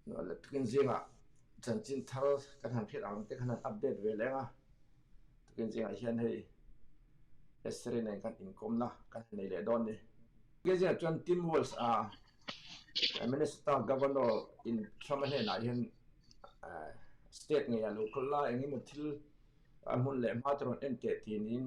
Nâ let takin zînga chanchin thar kan han khelh ang te khan han update ve lêng a, takin zînga hian hei Esri nen kan inkawmna kan han nei leh dâwn ni. Tlai zînah chuan Tim Walz-a Minnesota Governor in Trump-a hnênah hian state ngeia lo khawl lai eng emaw thil a hmun leh hma te rawn en teh tih niin,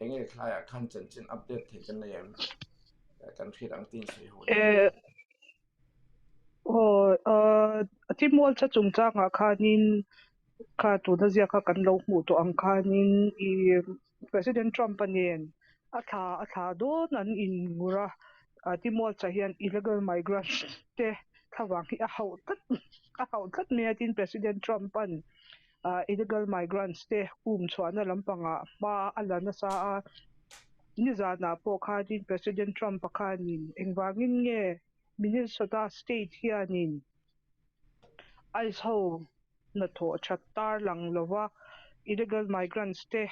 Eng e thlai a khan chen chen update thei kan nei em. Kan phit ang tin sei ho. E o a timol cha chung chang a khan in kha tu na zia kha kan lo mu to ang khan in i president trump anen a thla a thla don an in ngur a a timol cha hian illegal migrant te thla vang hi a hauh tlat a hauh tlat mai a tin president trump an Illegal migrants te pum chhuahna lampangah hma a la nasa a, nizanah pawh khanin President Trump pa khanin engvangin nge Minnesota State hianin ice ho hnathawh that tarlang lova illegal migrants te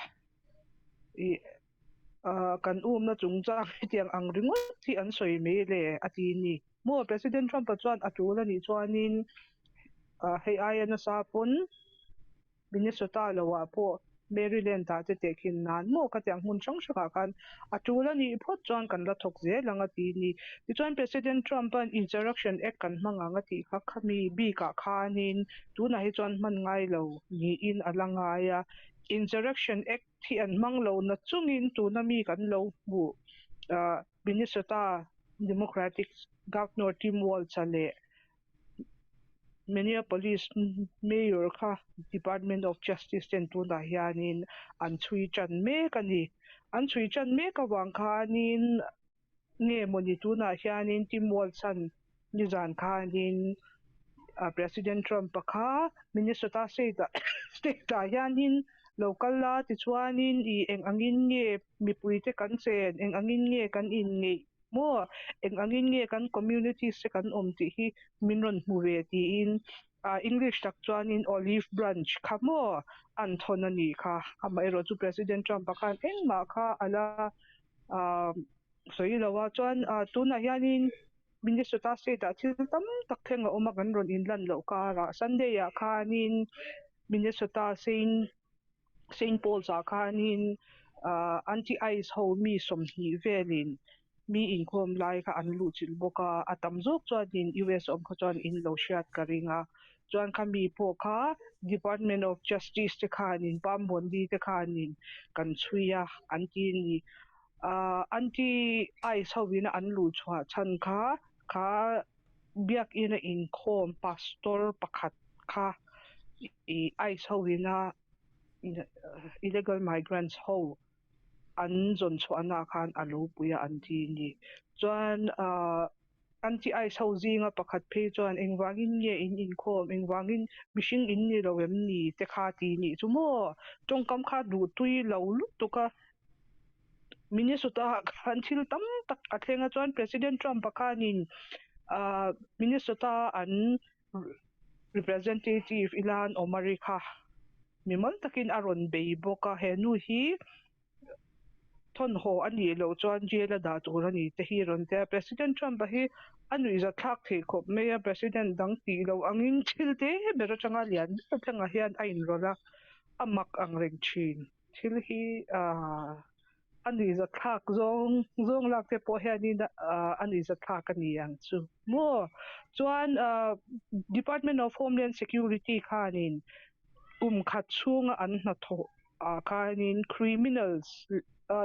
Kan umna chungchang hetiang ang ringawt hi an sawi mai le a ti ni. Maw? President Trump-a chuan a tul a nih chuanin hei aia nasa pawn Minnesota lo ah pawh Maryland ah te tehkhin nan maw ka ti ang hmun hrang hrangah khan a tul a nih phawt chuan kan la thawk zel ang a ti ni. Tichuan President Trump-a'n Insurrection Act kan hmang ang a tih kha khami bikah khanin tunah hi chuan hman ngai lo niin a la ngai a. Insurrection Act Thi an hmang lo na chungin tuna mi kan lo hmu a, Minnesota Democratic Governor Tim Walz-a leh Minneapolis Mayor kha Department of Justice ten tunah hianin an chhui tan mek a ni. An chhui tan mek avang khanin. Nge maw ni tunah hianin Tim Walzhan nizan khanin President Trump-a kha Minnesota state-ah hianin lo kal la, tichuanin i eng angin nge mipuite kan chen, eng angin nge kan inngeih maw, eng angin nge kan communities te kan awm tih hi min rawn hmu ve tiin English tak chuanin olive branch kha maw a an thawn a nih kha. Amaherawhchu President Trump-a khan engmah kha a la Aaa sawi i lo a, chuan aaa tunah hianin Minnesota state ah thil tam tak thleng a awm a kan rawn inlan loh karah Sunday ah khanin Minnesota Saint Saint Paul's ah khanin aaa anti ice ho mi sawmhnih velin mi inkhawm lai kha an luhchilh bawk a, a tam zawk chuanin US awm kha chuan in lo hriat ka ring a. chuan khami pawh kha Department of Justice te khan in Pambuanbi te khan in kan chhui a an ti a ni. Aah Aunty ice ho in an luh chhuah chhan kha kha biak in a in khawm Pastor pakhat kha i ice ho in a illegal migrants ho an zawn chhuah na khan a lo pui a an ti a ni. Chuan aah An tih ai chho zinga pakhat phei chuan engvangin nge in inkhawm, engvangin mihring in ni lo em ni te kha ti nih chu maw? Tawngkam kha duh tui lo lutuk a. Minnesota ah khan thil tam tak a thleng a chuan President Trump a khan in Minnesota an representative ila an awm a ri kha mi mawl takin a rawn bei bawk a. He nu hi. thawnhaw a nih loh chuan jail a dah tur a ni te hi a rawn tia. President Trump-a hi a nuihzatthlak theih khawp mai a, President dang tih loh angin thil te ber atanga lian ber tlangah hian a inrawlh a, a mak ang reng thin. Thil hi a nuihzatthlak zawng zawng lak te pawh hianin a nuihzatthlak a ni ang chu maw? Chuan Department of Homeland Security khanin kum khat chhunga an hnathawh ah khanin criminals,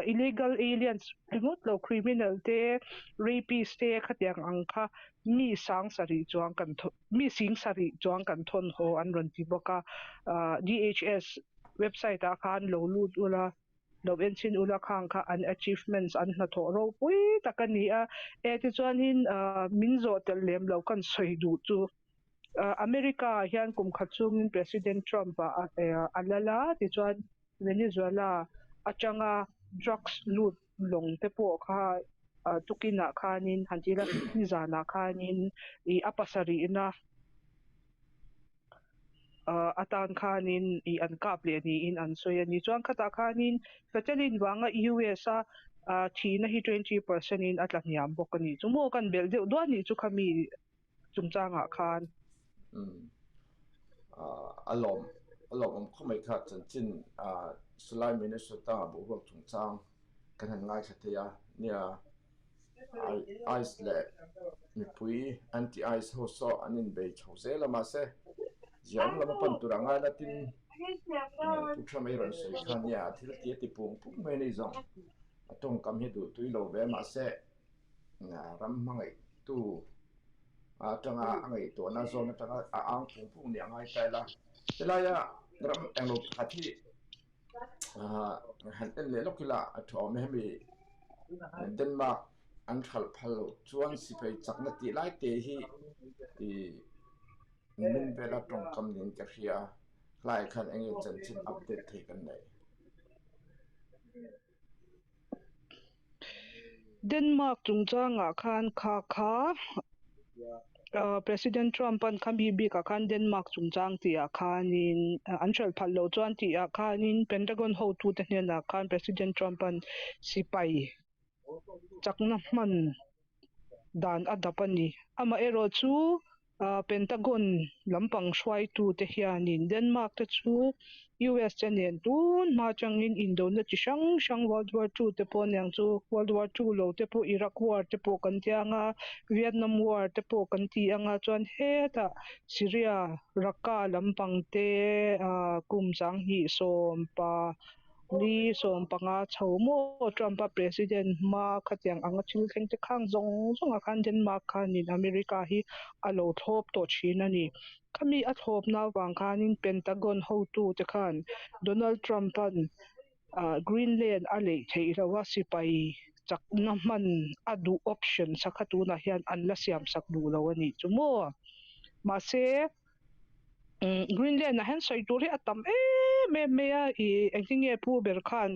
illegal aliens ringawt lo criminal te, rapist te khatiang ang kha mi sangsa rih chuang kan thaw, mi singsa rih chuang kan thawn haw an rawn ti bawk a. DHS website ah khan lo lut ula, lo enchin ula khang kha an achievements an hnathawh ropui tak a ni a. Eti chuan in min zawh telh lem lo kan sawi duh chu America-ah hian kum khat chungin President Trump a lal a, tichuan Venezuela atanga drugs lut lawng te pawh kha tukinah khanin han tih la, hemi zanah khanin a pasarihna atan khanin an kap leh niin an sawi a ni. Chuan khatah khanin Fetelin vanga US-a thihna hi twenty percent in a tla hniam bawk a ni. Chu maw kan belh deuh duai anih chu kha mi. chungchangah khan. Umm ah a lawm a lawmawm khaw mai kha chanchin ah Salai Minnesota boruak chungchang kan han ngaithla thei a nia ah ice leh mipui anti ice ho saw an inbei tho zel a mahse ziah awm lama pan turah ngai la tin umm Pu Trump ei rawn sawi khan nia a thiltih a ti pung pung mai a ni zawng a tawngkam hi duhtui lo ve mahse Ram hmangaihtu atanga a ngaihtuahna zawn atanga a ang phung phung nih a ngai ta ila, helaia ram englo pakhat hi han en leh lawk ila a thu awm e, hemi Denmark an hralh phal loh chuan sipai chakna tih lai te hi i min vela tawngkam niin ka hria, hlai khan enge chanchin update thei kan neih? Denmark chungchangah khan kha kha President Trump an kham hi bik ah khan Denmark chungchang tih ah khan in an hralh phal lo chuan tih ah khan in Pentagon hotu te hnen ah khan President Trump an sipai chakna hman dan a dap a ni. Amaherawhchu, Pentagon lampang hruaitute hianin Denmark te chu US che nen tun hma atangin indona chi hrang hrang World War Two te pawh aniang chu World War Two lo te pawh Iraq War te pawh kan tia anga Vietnam War te pawh kan ti anga chuan hetah Syria Raqqa lampang te kum chang hnih sawm pa Ni sawm panga chho maw Trumpa president hma khatiang anga thil thleng te khang zawng zawng ah khan Denmark khanin America hi a lo thlawp tawh thin a ni. Khami a thlawp na avang khanin Pentagon hotu te khan Donald Trumpan Greenland a leih theih loh a sipai chakna hman a duh option sakha tunah hian an la siam sak duh lo a nih chu maw? Mahse Greenland ah hian sawi tur hi a tam em em mai a i eng ti nge pu ber khan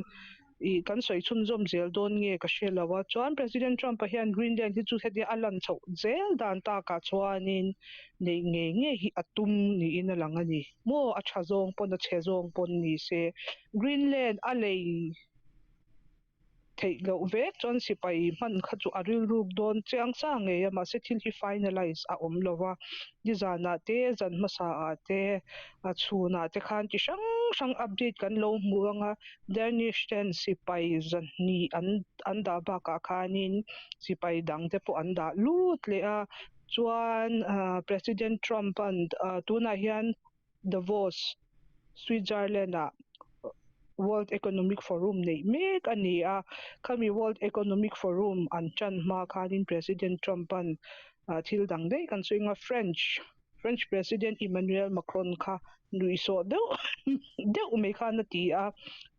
i kan sawi chhun zawm zel dawn nge ka hre lo a chuan President Trump a hian Greenland hi chu hetia a lan chhoh zel dan tak ah chuan in neih ngei ngei hi a tum niin a lang a ni maw a tha zawng pawn a che zawng pawn ni se Greenland a lei theih loh vek chuan sipai hman kha chu a rilruk dawn chiang sa ngei a mahse thil hi finalise a awm lova nizanah te zan hmasa ah te a chhunah te khan chi hrang hrang update kan lo hmuh anga Danish ten sipai zahnih an an dah bakah khanin sipai dangte pawh an dah lut leh a chuan President Trump an tunah hian Davos, Switzerland ah World Economic Forum neih mek a ni a, khami World Economic Forum an tan hma khanin President Trump-a'n thil dang daih kan sawi anga French French President Emmanuel Macron kha nuihsawh deuh deuh mai khan a ti a,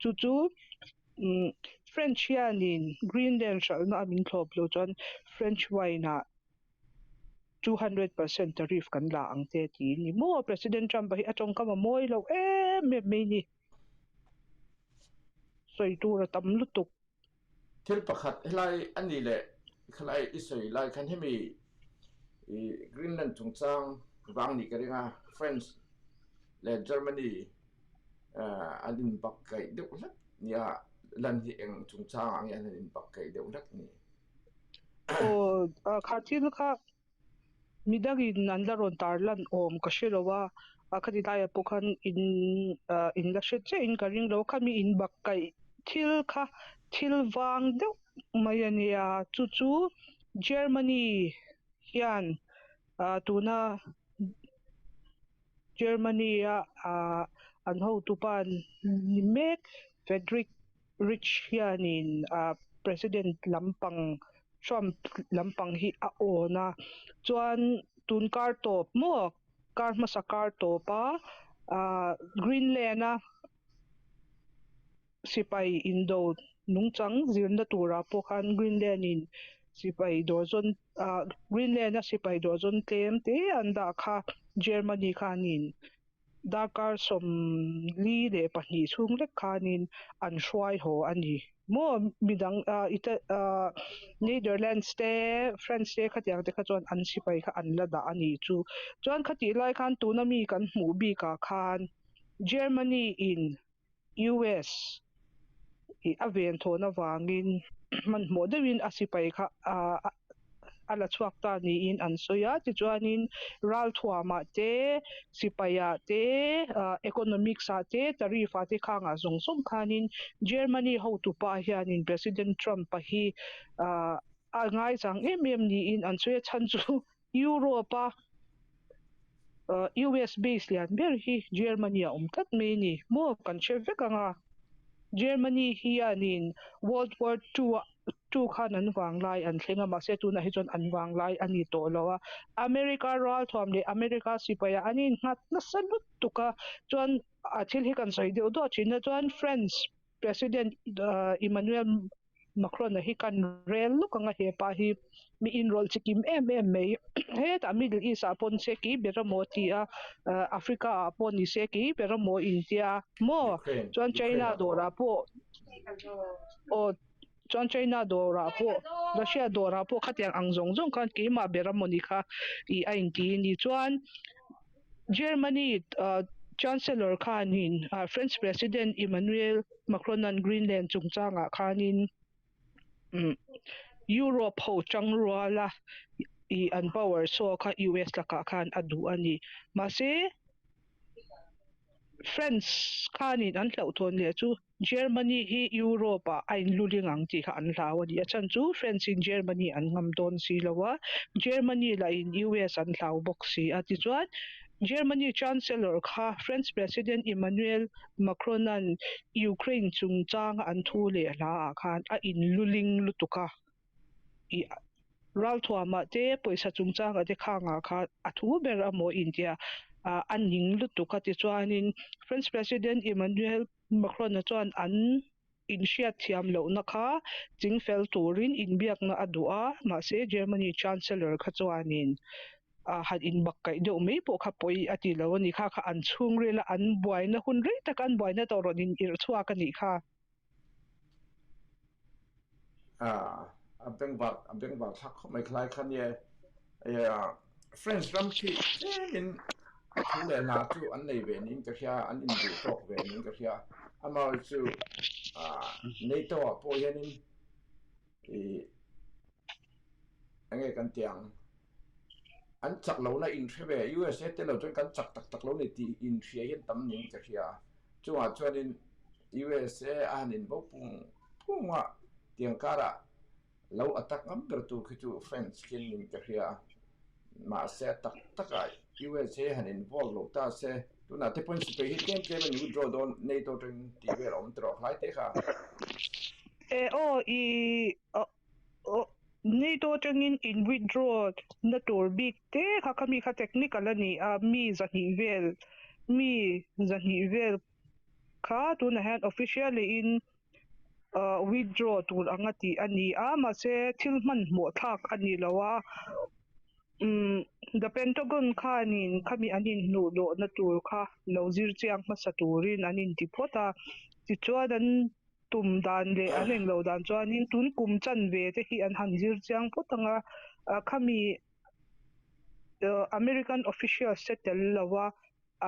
chu chu French hianin Greenland hralhna a min thlawp lo chuan French wine ah two hundred percent tariff kan la ang che ti ni maw president trump hi a tawngkam a mawi lo em em mai ni sawi tur a tam lutuk. Thil pakhat helai a ni le khalai i sawi lai khan hemi i Greenland chungchang vang nih ka ring a France leh Germany an in bak kaih deuh hlat nia lan hi eng chungchang ah nge an han in bak kaih deuh hlat ni. Aw, kha thil kha mi dangin an la rawn tar lan awm ka hre lo a, a khati laia pawh khan in in la hre chiah in ka ring lo a, khami in bak kaih thil kha thil vang deuh mai a nia, chu chu Germany hian ah tuna Germany-a ah an hotupa ni mek Fedrik Rich hianin President lampang Trump lampang hi a awn a, chuan tun kar tawp maw kar hmasa kar tawp a Greenland a sipai indo nungchang zirna turah pawh khan Greenland in sipai dawr zawn Greenland a sipai dawr zawn tlem te an dah kha Germany khanin Darkar sawm li leh pahnih chhung vek khanin an hruai haw a ni. Maw midang Ita Netherlands te France te khatiang te kha chuan an sipai kha an la dah a nih chu. Chuan khati lai khan tuna mi kan hmuh bikah khan Germany in. US i a ven thawn avangin hmanhmawh deuhin a sipai kha a la chhuak ta niin an sawi a. Tichuanin ralthuamah te, sipaiah te, economics ah te, tariff ah te khang ah zawng zawng khanin Germany hotu pa hianin President Trump-a hi a ngaizang em em niin an sawi a. Chhan chu Europe-a US base lian ber hi Germany-a awm tlat mai a ni maw? Kan hre vek ang a, Germany hianin World War Two-a two khan an vang lai an thleng a, mahse tunah hi chuan an vang lai a ni tawh lo a, America ralthuam leh America sipaia an innghat nasa lutuk a, chuan a thil hi kan sawi deuh duah thinna chuan France, President Emmanuel Macron-a hi kan rel lawk anga he pa hi mi inrawlh chi kim em em mai, hetah Middle East-ah pawh ni se kei ber a maw ti a, Africa-ah pawh ni se kei ber a maw intia. Maw chuan China dawrah pawh aw Chuan China dawrah pawh, Russia dawrah pawh khatiang ang zawng zawng khan keimah ber a maw ni kha ih a inti a ni. Chuan Germany Chancellor khanin French President Emmanuel Macronan Greenland chungchangah khanin Europe ho chang ruala ih an power show kha US lakah khan a duh a ni. Mahse, France khanin an hlauhthawn leh chu Germany hi Europe ah a inluling ang tih kha an hlau a ni. A chhan chu French in Germany an ngam dawn si lo a, Germany lah in US an hlau bawk si a. Tichuan, Germany Chancellor kha French President Emmanuel Macron-a'n Ukraine chungchanga an thu leh hla ah khan a inluling lutuk a. I ralthuam ah te, pawisa chungchang a dekhang ah kha a thu ber a maw intia a ning lutuk a. Tichuanin, French President Emmanuel Makhloina chuan an inhriatthiam lohna kha chingfel turin inbiakna a duh a, mahse Germany Chancellor kha chuanin a han inbak kaih deuh mai pawh kha pawi a ti lo a ni kha kha an chhungril a, an buaina hun rei tak an buaina tawh rawn inirh chhuak a nih kha. a beng vak a beng vak thlak khawp mai khlai khan nia friends ram khi tlem in thu leh hna chu an nei ve niin ka hria an in duh tawk ve niin ka hria amawi chu nei to ah pawh hian in i enge kan tih ang An chak lo na in hre ve, usa te lo chuan kan chak tak tak lo ni tih in hria hian tam ning ka hria a. Chungah chuanin usa a han in bo pung pung a, tiang karah lo attack ngam ber tur khi chu France khin ning ka hria a. Mahse a tak tak a usa han involve lo ta se, tunah te pawhin sipai hi tlem tlem a ni withdraw dawn nato atangin tih vel a awm ta rawh a hlai te kha. Ee aw ii. Awh, neitu atangin in withdraw na tur bik te kha kha mi kha technical a ni a, mi zahnih vel, mi zahnih vel kha tunah hian officially in withdraw tur anga tih a ni a, mahse thil hmanhmawh thlak a ni lo a, umm The Pentagon khanin khami an inhnuh loh na tur kha lo zir chiang hmasa turin an inti phawt a, tichuan an. tum dan leh an eng lo dan chuanin tun kum chan ve te hi an han zir chiang phawt ang a, khami American officials te tel lo a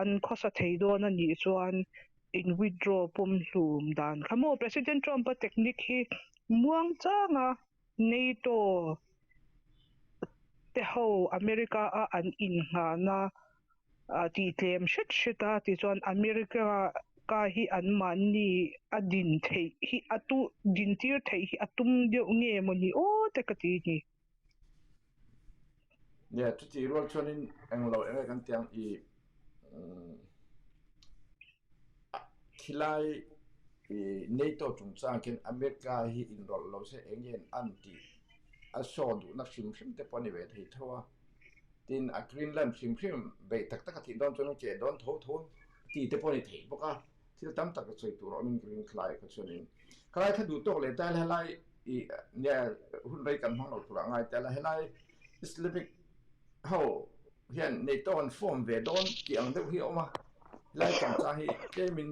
an khawsa thei dawn a nih chuan in withdraw pawm hlum dan kha maw? President Trump-a technique hi muang chang a. NATO te ho America a an in nghahn a a tih tlem hret hret a tichuan America ka hi an mahni a din theih hi a tu din tir theih hi a tum deuh nge maw ni aw te ka ti ni. Nia, chutih rual chuanin eng lo eng nge kan ti ang i khilai i NATO chungchang khian America hi inrawlh lo se eng nge an an tih a show duhna hrim hrim te pawh a ni ve thei tho a. Tin a Greenland hrim hrim beih tak tak a tih dawn chuan an ke dawn tho tho tih te pawh a ni thei bawk a. Thil tam tak ka chawih tur awm in ka ring thlai khaw chuan in ka lai thla duh tawk leh teh a la helai i nia hun rei kan hmang lo tur ah ngai teh a la helai Islamic ho hian nei tawk an form ve dawn tih ang deuh hi a awm a helai changcha hi tlem in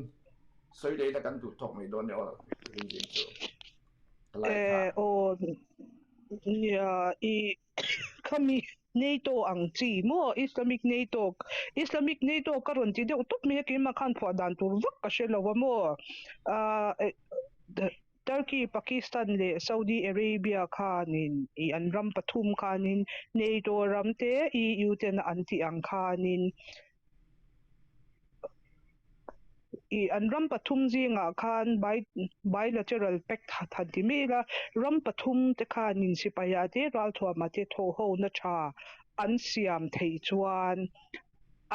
sawi leh in a kan duh tawk mai dawn nia aw ka ring zing chu ka lai tha. Aw nia i. khami NATO ang chi maw Islamic NATO Islamic NATO ka rawn ti deuh tawp mai a keimah khan phuah dan tur vak ka hre lo a maw ahh Turkey Pakistan leh Saudi Arabia khanin ih an ram pathum khanin NATO ram te EU ten a an tih ang khanin ih an ram pathum zingah khan bai bilateral pact ha tha ti mai ila, ram pathum te khan in sipaiha te ralthuama te thawhhona tha an siam theih chuan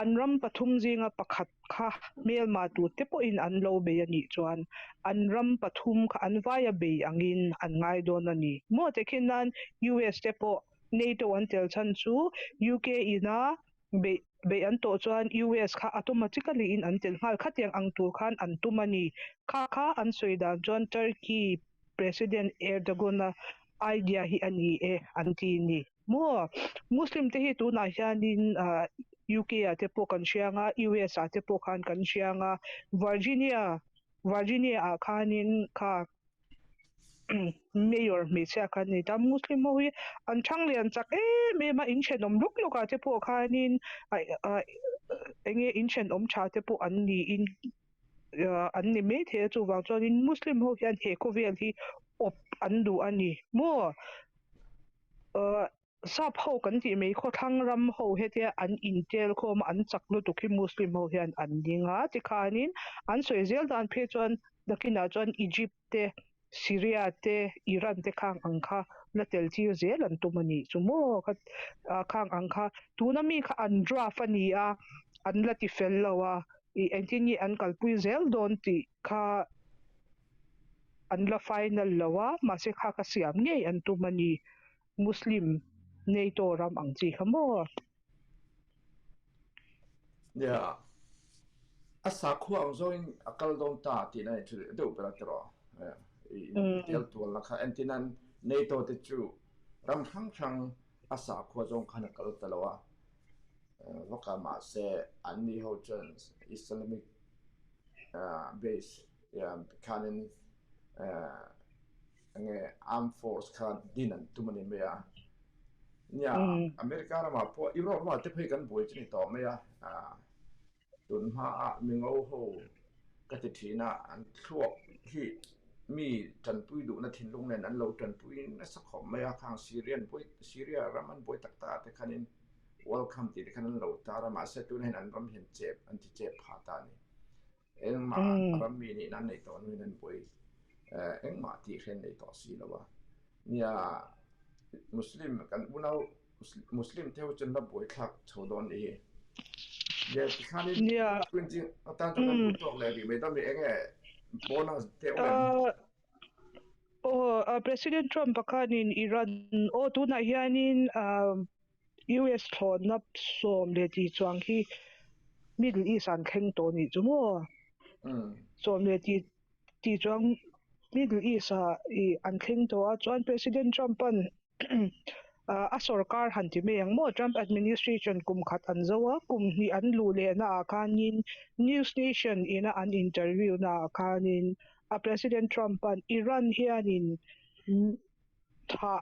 an ram pathum zinga pakhat kha hmelma tur te pawh in an lo bei a nih chuan an ram pathum kha an vai a bei ang in an ngai dawn a ni. Maw te khin nan US te pawh NATO an tel chhan chu UK ina beih beih an tawh chuan US kha automatica li in an chelh nghal khatiang ang tur khan an tum a ni. Kha kha an sawi dan chuan Turkey President Erdogan a idea hi a ni e an ti ni maw? Muslim te hi tunah hian in UK ah te pawh kan hria nga US ah te pawh khan kan hria nga Virginia Virginia ah khan in kha Mayor hmeichhia kha an ni ta, Muslim ho hi an chhang lian chak em em a, in thenawm lawk lawk ah te pawh khanin eng nge in thenawm tha te pawh an niin an ni maithei a, chuvang chuanin Muslim ho hian he khawvel hi awp an duh a ni maw. Sap ho kan tih mai khaw thlang ram ho hetia an intel khawm a, an chak lutuk hi Muslim ho hian an ding a. Tikhanin an sawi zel dan phei chuan nakinah chuan Egypt te, Syria te, Iran te khang ang kha la tel tir zel an tum a nih chu maw kha khang ang kha tuna mi kha an draft a ni a, an la ti fel lo a, ih engtin nge an kalpui zel dawn tih kha an la final lo a, mahse kha ka siam ngei an tum a ni. Muslim nei tawh ram ang chi kha maw? Nia, a sakhua ang zawngin a kal dawn ta tihna i thil deuh ber a tiraw? I intel tual na kha engtin an nei tawh te chu ram hrang hrang a sakhua zawng khan a kal ta lo a, va kal mah se an ni ho chuan Islamic base khanin Enge armed force khan din an tum ani mai a. Nia America ramah pawh Europe ramah te phei kan buai chu ni tawh mai a. Tun hmaa mi ngo ho ka ti thina an thluak hi mi tanpui duhna thinlung nen an lo tanpui nasa khawp mai a. Khang Syrian buai, Syria ram an buai tak tak te khanin welcome tih te khan an lo tar a. Mahse tunahin an ram hian chep, an ti chep pha ta a ni. Engmah a ram mi nih nan neih tawh nuih nan buai engmah tih hrian neih tawh si lo a nia Muslim kan unau Muslim te ho chuan la buai thlak chho dawn nih hi nia tikhanin tun chi atan ta kan duh tawk leh ri mai dam eng e bonus te awm em Oh, President Trump pakhanin Iran aw tunah hianin US thlawtna sawm leh ti chuang hi Middle East an thleng tawh nih chu maw? Sawm leh ti ti chuang Middle East a i an thleng tawh a chuan President Trump an a sorkar han ti mai ang maw? Trump administration kum khat an zo a, kum hnih an luh lehna ah khanin News Nation ina an interview na ah khanin a President Trump an Iran hianin thah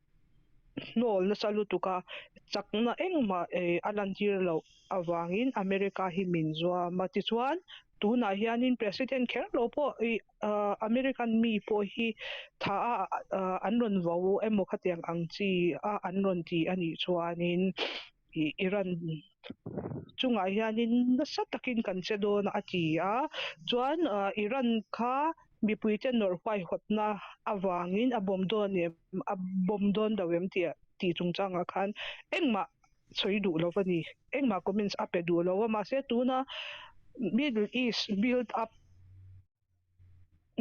hnâwl nasa lutuka chakna engmah a lantir loh avangin America hi min zuam a. Tichuan, tunah hianin President kher lo pawh American mi pawh hi tha a an rawn vau emaw khatiang ang chi a an rawn ti a nih chuanin, Iran chungah hianin nasa takin kan che dawn a ti a, chuan Iran kha mipuite nawr huaihawtna avangin a bawm dawn em a bawm dawn lo em tih tih chungchangah khan engmah sawi duh lo a ni, engmah comments a pe duh lo a, mahse tuna Middle East build up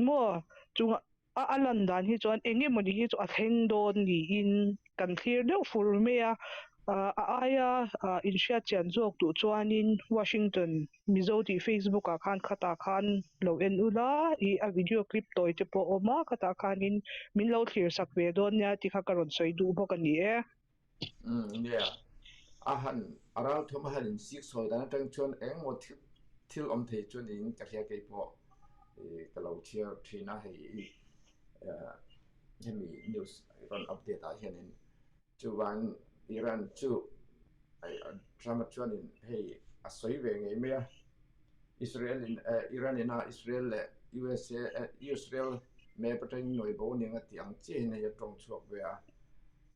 Maw? Chunga a lan dan hi chuan eng emaw ni hi chu a thleng dawn niin kan thlir deuh fur mai a. A aia inhriatchian zawk duh chuanin Washington Mizo tih Facebook ah khan khatah khan lo en u la i a video clip tawi te pawh a awm a, khatah khanin min lo thlir sak ve dawn nia tih kha ka rawn sawi duh bawk a ni e. Umm nge a han a rau thawm a han insik sawi dan atang chuan engemaw thil thil awm thei chuan in ka hria kei pawh ih ka lo chhiar thin a hei i hemi news rawn update ah hian in chuan Iran chu Trump a chuan in hei a sawi ve ngei mai a Israel in eh Iran ina Israel leh usa eh Israel map atangin nuaibo nia tih ang chiahin hei a tawng chhuak ve a.